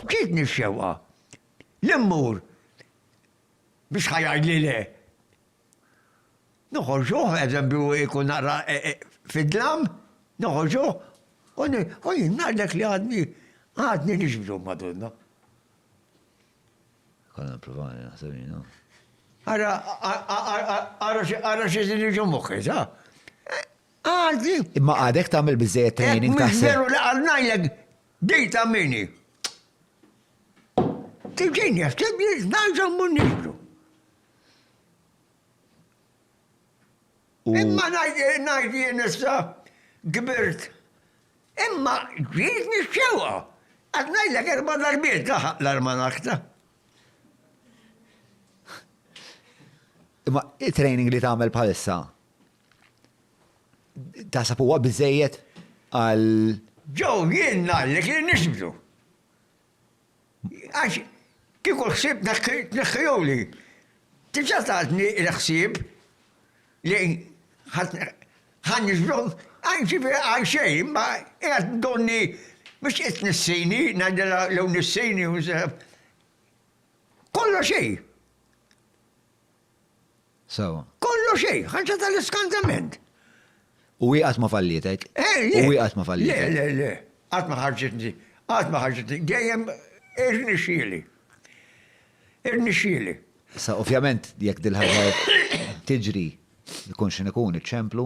Ġietni x-xewqa li mmur biex ħa jgħidli le. Noħorġuh, eżempju, ikun naqra e, e, fid-dlam, noħorġuh, u jien ngħidlek li għadni għadni nixbdu Madonna. Konna provani naħseb jien. Ara, ara, ara xi din iġu moħħi, sa? Għadni. Imma għadek tagħmel biżejjed training ta' sew. Veru li għadnajlek Bdejt għamini. Tiġin jaħseb li nerġa' mmur niġbru. Imma ngħid jien issa kbirt. Imma ġiet nixxewqa. Qed ngħidlek erba' darbiet laħaq l-armanakta. Imma it-training li tagħmel bħalissa Tasab huwa biżejjed għal. Ġew jien ngħallek li nisbdu. Għax kieku ħsieb tneħħihuli. Tiġa tatni l-ħsieb li ħan nisbdu għal ġifieri għal xejn ma qiegħed donni biex qed nissini ngħidilha lew nissini u kollox xejn. Sewwa. Kollox xejn, ħaġa tal-iskantament! U hi qatt ma fallietek? U hi qatt ma fallietek? Le, le, le, qatt ma ħarġitni, qatt ma ħarġitni, dejjem irnexxieli. Irnexxieli. Issa ovvjament jekk dil-ħaġa tiġri ikun x'inhu ikun iċ-ċemplu,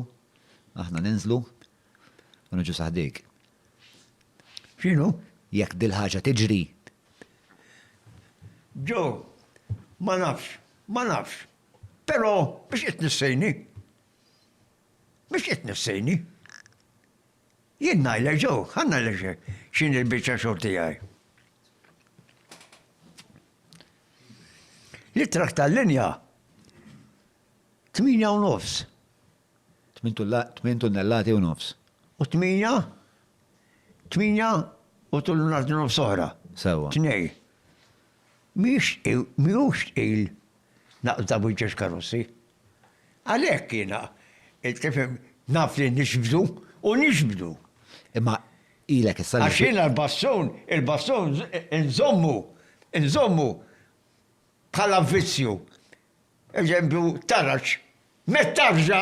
aħna ninżlu u niġu sa ħdejk. X'inhu? Jekk dil-ħaġa tiġri. Joe, ma nafx. Ma nafx. Però biex qed tnissejni? Biex qed tnissejni? Jien ngħidlek ġo, ħa ngħidlek x'inhi l-biċċa xogħol tiegħi. L-ittrack tal-linja tmienja u nofs. Tmien tunnellati u nofs. U tmienja, tmienja u tunnellati nofs oħra. Sewwa. Tnej. mhijiex tqil naqs daqs wieġeġ karozzi. Għalhekk jiena, tifhem, naf li nixbdu u nixbdu. Imma ilek issa. Għax jiena l-bastun, il-bastun inżommu, inżommu bħala vizzju. Eżempju, taraġ, mett tarġa,